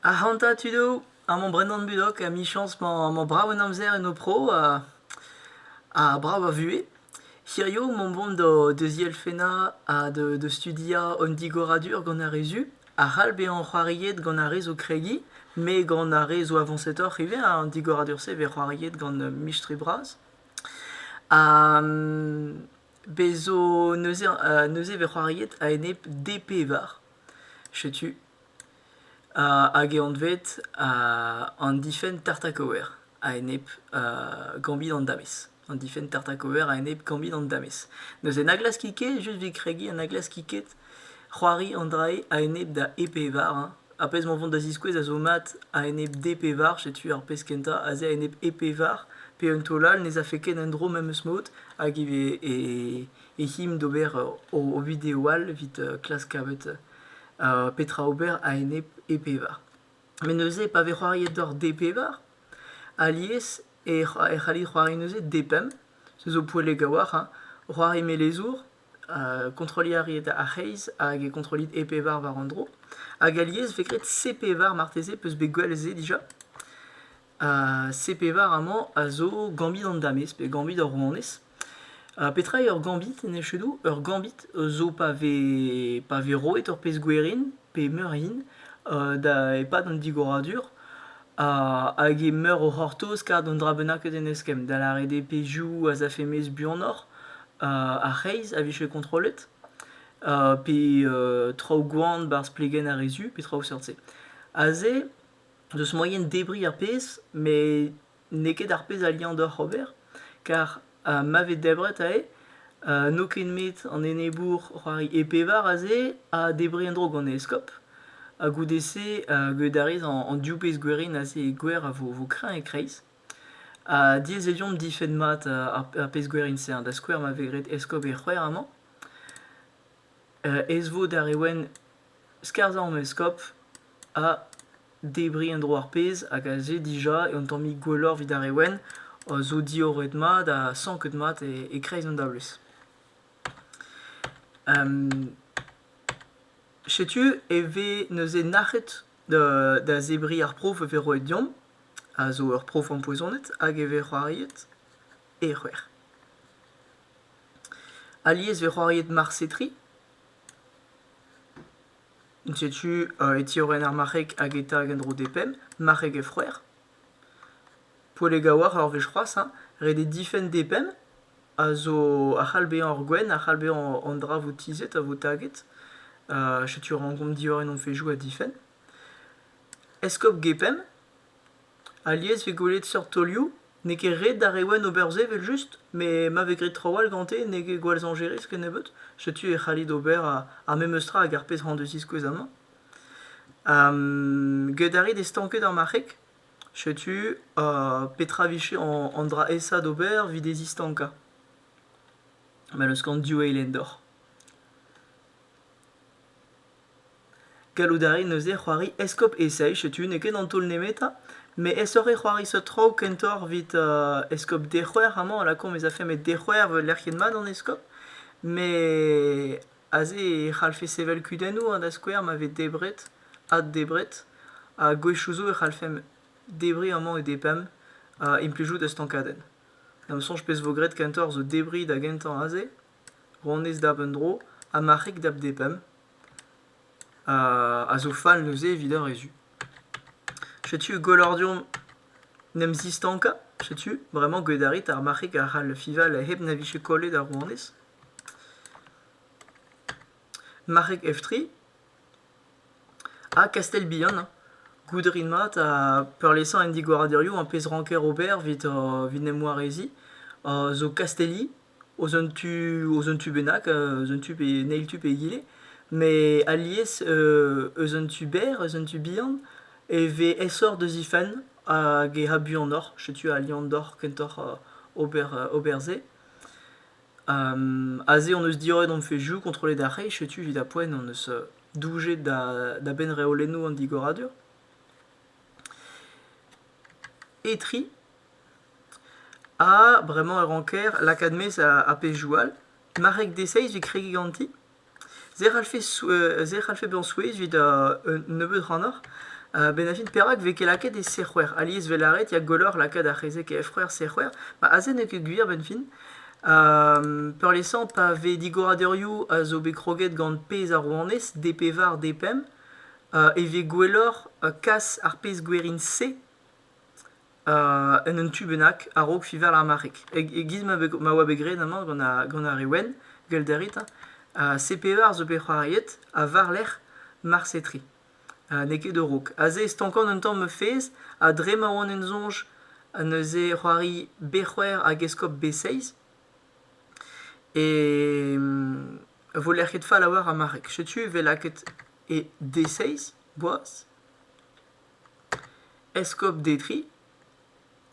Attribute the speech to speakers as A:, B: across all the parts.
A: Ac'hanta tud eo, amañ Brendan Budok, emichañs 'mañ brav en amzer en ho pro ha ha brav a vuhez. Hirio 'mañ 'mont da zielfennañ ha da studiañ an digoradur gant ar re zu a c'hall bezañ c'hoariet gant ar re zo kregiñ met gant ar re zo avañsetoc'h ivez an digoradur-se 'vez c'hoariet gant mistri bras. Bez zo neuze neuze e vez c'hoariet a-enep D pevar. Setu hag eo anvet an difenn tartakover a-enep gambit an damez. An difenn tartakover a-enep gambit an damez. Neuze na glaskit ket, just evit kregiñ, ha na glaskit ket c'hoari an dra-se a-enep da E pevar Ar pezh emañ o vont da ziskouez a zo mat a-enep D-pevar, setu ar pezh kentañ, aze a-enep E-pevar, pe un taol all ne zafe ket en-dro memes mod, hag e vez e, e him d'ober o, o video all evit klask kavet petra ober a-enep E-pevar. Met neuze, pa vez c'hoariet doc'h D-pevar, alies e c'hallit c'hoari neuze D-pemp, se zo poellek a-walc'h, hein, c'hoari melezour, kontroliñ a reet ar c'hreiz hag e kontrollit e pevar war an dro. Hag alies e vez graet C pevar marteze, peus bet gwell se dija. C pevar amañ a zo gambit an damez pe gambit ar rouanez. petra eo ur gambit en echedoù? Ur gambit zo pa vez pa vez roet ur pezh gwerin pe meur hin da e-pad an digoradur hag eo meur o c'hortoz kar d'un dra bennaket en eskemm, da lâret eo pezhioù az afe mezh buanoc'h, ar c'hreiz a vije kontrollet, pe traoù gwan 'barzh plegenn ar re zu, pe traoù seurt-se. Aze, deus moaien debriñ ar pezh, met n'eo ket ar pezh a liañ deoc'h ober, kar ha ma vez debret aze, uh, n'eo ket met an enebour c'hoari e pevar aze a debre en-dro gant e eskob. Ha goude-se uh, gwelet a rez an, an div pezh gwerin aze gwer a vo, vo kreñv e-kreiz. Ha diaes deomp difenn mat ar, ar pezh gwerin-se, da skouer ma vez graet eskob e c'hwec'h amañ. ezvod ar re wenn skarzhañ an eskob ha debriñ en-dro ar pezh hag aze dija eo un tammig gwelloc'h evit ar re wenn zo diorroet mat ha sanket mat e-kreiz an dablez. Setu e vez neuze nac'het da zebriñ ar prof e vez roet deomp, a zo ur prof ampoizonet hag e vez c'hoariet. ec'hwer. Alies eo c'hoariet marse tri. Setu e tiorren ar marc'heg hag e tag en-dro d'e penn, marc'heg he froer. Poellek a-walc'h ur wech c'hoazh hein, ret eo difenn d'e penn a zo a c'hall bezañ ur gwenn, a c'hall bezañ an dra vo tizhet ha vo taget. setu rankomp diorren hon fezhioù ha difenn. Eskob Gepemp Alies 'vez gwelet seurt taolioù, n'eo ket ret d'ar reouen ober se evel-just, met ma vez graet traoù all gante n'eo ket gwall zañjerus kennebeut. Setu e c'hallit ober ar memes tra hag ar pezh c'hañ deus ziskouez amañ. get a rit e stanked ar marc'heg, setu petra 'vije an dra-esa d'ober evit e zistankañ. Ma n'eus ken div eilhen deoc'h. Gallout a rin neuze c'hoari eskob Esaü. Setu n'eo ket an taol nemetañ, met aesoc'h eo c'hoari seurt traoù kentoc'h evit eskob Dec'hwer. Amañ a lakaomp ez afe met Dec'hwer eo lec'hienn mat an eskob. Met aze e c'hallfe sevel kudennoù ha da skouer ma vez debret, addebret. Ha gwechoù zo e c'hallfemp debriñ amañ e depemp implijout ur stankadenn. Da ma soñj pezh vo graet kentoc'h zo debriñ da gentañ aze. ronez dap un dro ha marc'heg dap depemp a zo fall neuze evit ur re zu. Setu gollordiom 'n em zistankañ, setu bremañ get a rit ar marc'heg a c'hall fiñval hep na vije kollet ar ronez. Marc'heg Eftri ha Kastell-Bihan goût a rin mat ha peurliesañ an digoradurioù, an pezh ranker ober evit en em wareziñ zo Kastelli eus un tu eus un tu bennak, eus un tu pe en eil tu pe egile, met alies eus un tu berr, eus un tu bihan e vez aesoc'h da zifenn hag e ra buanoc'h. Setu al liamm deoc'h kentoc'h ober ober-se. Aze hon eus diorret hon fezhioù kontrollet ar c'hreiz, setu evit ar poent hon eus doujet da benn reolennoù an digoradur. Etri Ah bremañ e ranker lakaat maez ar pezhioù all, marc'heg deseizh evit kregiñ ganti. Se a c'hallfe se a c'hallfe bezañ souezh evit un nebeud ac'hanoc'h a-benn ar fin perak e vez ket lakaet e sec'hwec'h? Alies 'vel lâret ya gwelloc'h lakaat ar c'hezeg e f-c'hwec'h sec'hwec'h, ma aze n'eo ket gwir a-benn-fin. peurliesañ pa vez digoradurioù a zo bet kroget gant pezh ar rouanez, D pevar, D pemp, e vez gwelloc'h kas ar pezh gwerin-se en un tu bennak a-raok fiñval ar marc'heg. E-giz ma oa bet graet amañ gant ar re wenn, gwellit a rit, CP1 zo bet c'hoariet ha war-lerc'h marse tri, n'eo ket a-raok. Aze e stankan un tamm ma fezh ha dre ma oan en soñj neuze c'hoari B-c'hwec'h hag eskob B-seiz e vo lec'hiet fall a-walc'h ar marc'heg. Setu e vez lakaet e D-seiz boaz. Eskob Detry.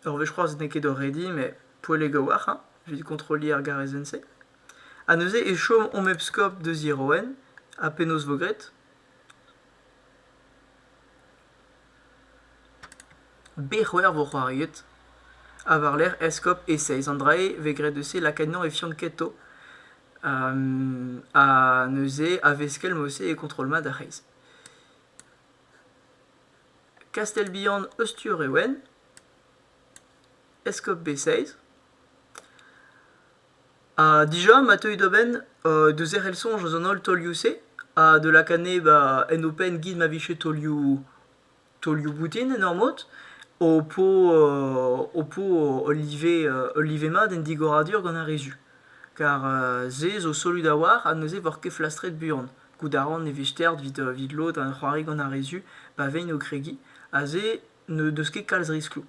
A: Ur wech c'hoazh n'eo ket oc'h rediñ, met poellek a-walc'h hein, evit kontrolliñ ar garezenn-se. Ha neuze e chom hom eskob deus Iroen ha penaos vo graet? Bec'hwer vo c'hoariet. Ha war-lerc'h eskob Eseizh. An dra-se vez graet eus se lakaat anezhañ e Fianketo. ha neuze a-veskell mod-se e kontrol mat ar c'hreiz. Kastell-Bihan Austur eo en, Eskob B6. Ha dija ma teuy da benn euh, da zerc'hel soñj eus an holl taolioù-se ha da lakaat neb a en ho penn git ma vije taolioù taolioù boutin en ur mod, ho po euh, ho po ul live euh, ul live mat en digoradur gant ar re zu. Kar se zo solud a-walc'h ha neuze 'voc'h ket flastret buan. Goût a ran e vez stêrt evit lod a c'hoari gant ar re zu pa vegn o kregiñ, aze n'eus ket kalz riskloù.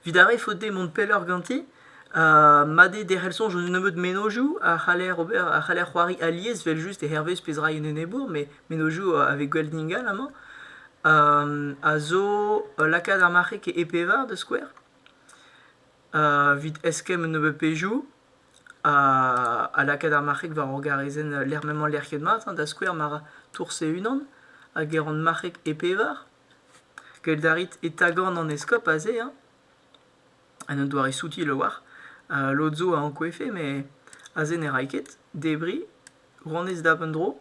A: Evit ar re faot dezhe mont pelloc'h ganti, mat eo derc'hel soñj eus un nebeud mennozhioù a c'haller ober, a c'haller c'hoari alies evel-just hervez pezh ra en enebour, mais mennozhioù avec Gwell Dingal amañ, a zo lakaat ar marc'heg e pevar da skouer, evit eskemm un nebeud pezhioù, ha lakaat ar marc'heg war ur garezenn m'emañ lec'hiet mat, da skouer ma ra tours e-unan hag e ran marc'heg e pevar. Gallet a rit e tagan an eskob aze hañ, en un doare soutil a-walc'h. lod zo a ankouevfe met aze ne ray ket. Debriñ, rouanez dap un dro.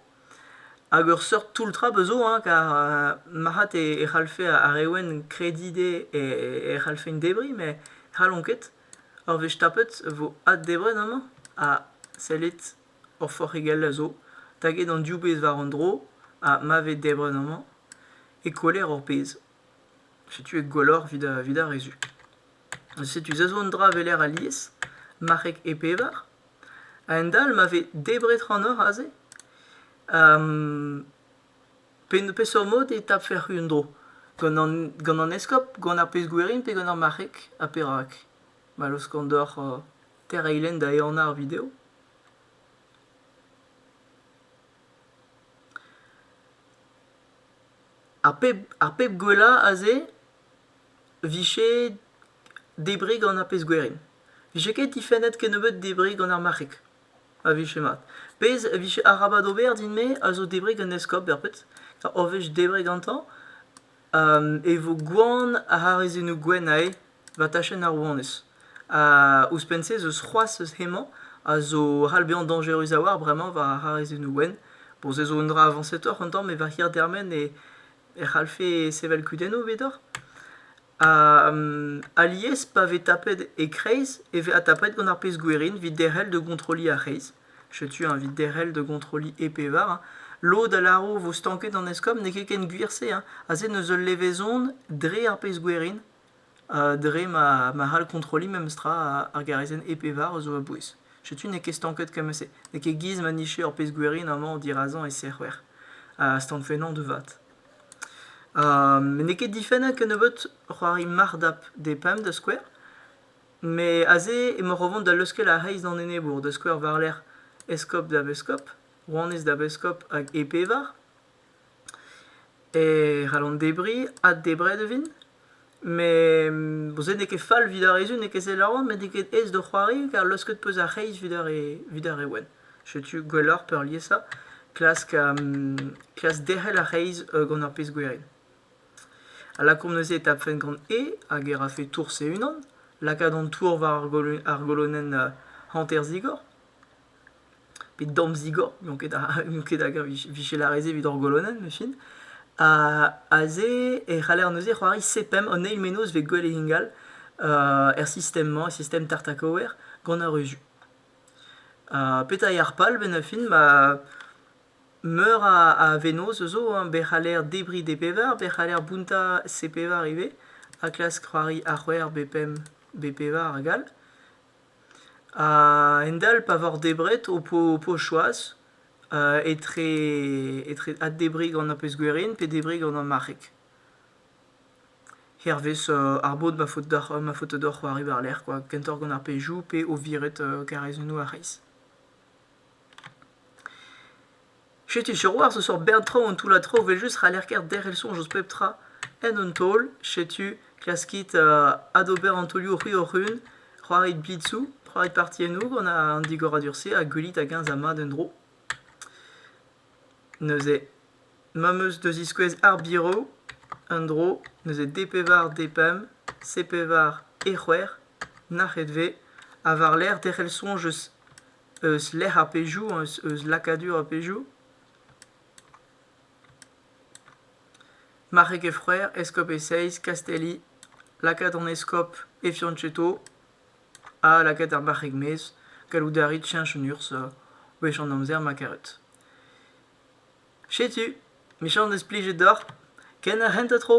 A: Hag ur seurt toull trap zo hañ, kar marc'had e c'hallfe ar re wenn krediñ dezhe e c'hallfent debriñ met n'hallont ket. Ar wech tapet e vo addebret amañ ha sellit hor forc'higell a zo taget an div bezh war an dro ha ma vez debret amañ e kweler hor pezh. Setu eo gwelloc'h evit evit ar re zu. Setu se zo un dra weler alies, marc'heg e pevar. A-hend-all ma vez debret c'hanoc'h aze peseurt mod e tafec'h un-dro gant an gant an eskob gant ar pezh-gwerin pe gant ar marc'heg ha perak ma laoskan deoc'h tereilenn da ehanañ ar video ar pep ar pep gwellañ aze 'vije debriñ gant ar pezh-gwerin 'vije ket difennet kennebeut debriñ gant ar marc'heg a vije mat. Pezh a vije arabat ober din-me a zo debriñ gant eskob berpet, ur wech debriñ gantañ, e vo gwan ar harizennoù gwenn a'e war tachenn ar rouanez. Ha ouzhpenn-se ez eus c'hoazh eus hemañ a zo c'hall bezañ dañjerus a-walc'h bremañ war ar harizennoù gwenn. Bon, se zo un dra avañsetoc'h un tamm, met war hirdermen e c'hallfe sevel kudennoù evit deoc'h. Alies pa vez tapet e-kreiz e vez adtapet gant ar pezh-gwerin evit derc'hel da gontroliñ ar c'hreiz. Setu eñ evit derc'hel da gontroliñ e pevar hein. Lod a lâro vo stanket an eskob, n'eo ket ken gwir se hein. Aze neus ul levezon dre ar pezh-gwerin ha dre ma ma c'hall kontroliñ memestra ar garazenn e pevar a zo a-bouez. Setu n'eo ket stanket kement-se. N'eo ket giz ma nije ur pezh-gwerin amañ dirazañ e serc'hwec'h ha stank fennañ da vat. n'eo ket difennañ kennebeut c'hoari marc'h-dap d'e pemp da skouer. Met aze emaoc'h o vont da leuskel ar c'hreiz d'an enebour, da skouer war-lerc'h eskob da beskob, rouanez da beskob hag e pevar. E c'hall an debriñ addebret e vint. Met se n'eo ket fall evit ar re zu n'eo ket selaouet met n'eo ket aes d'o c'hoari kar leusket 'peus ar c'hreiz evit ar re evit ar re wenn. Setu gwelloc'h peurliesañ klask klask derc'hel ar c'hreiz gant ur pezh gwerin. A lakaomp neuze e tapfen gant E hag e rafe tours e-unan, lakaat an tour war ar golo- ar golonenn hanter-zigor. Pe dorn-zigor, n'on ket a, n'on ket hag a vije lâret se evit hor golonenn, machin. Ha aze e c'haller neuze c'hoari sepemp an eil mennozh vez gwell ingal er sistem-mañ, sistem tartakower, gant ar ruzioù. petra eo ar pal bennañ-fin ma meur a vennozh zo hein, be c'haller debriñ d'e bevar, be c'haller bountañ se pevar ivez, ha klask c'hoari a c'hwec'h, be pemp, be pevar hag all. A-hend-all pa voc'h debret ho po choaz etre addebriñ gant ar pezh-gwerien pe debriñ gant ar marc'heg. Hervez ar bod ma faot deoc'h ma faoto deoc'h c'hoari war-lerc'h kwa kentoc'h gant ar pezhioù pe o viret karaezennoù a-c'hreiz. Setu Siwazh eus ur bern traoù an toullad traoù evel-just c'haller kaer derc'hel soñj eus pep tra en un taol. Setu klaskit adober an taolioù c'hwi-hoc'h-un, c'hoarit blitzoù, c'hoarit partiennoù gant an digoradur-se ha gwelit hag-eñ za mat un-dro. Neuze, ma'm eus da ziskouez ar biro en-dro, neuze D-pevar D-pemp, C-pevar E-c'hwec'h, nac'het 'vez, ha war-lerc'h derc'hel soñj eus eus lec'h ar pezhioù, eus lakadur ar pezhioù. Marc'heg Efreer, eskob Eseiz, Kastelli, lakaat an eskob Effiancheto ha lakaat ar marc'heg-maez. Gallout a rit cheñch an urzh wech an amzer ma karet. Setu, micher neus plijet deoc'h, ken ar c'hentañ tro!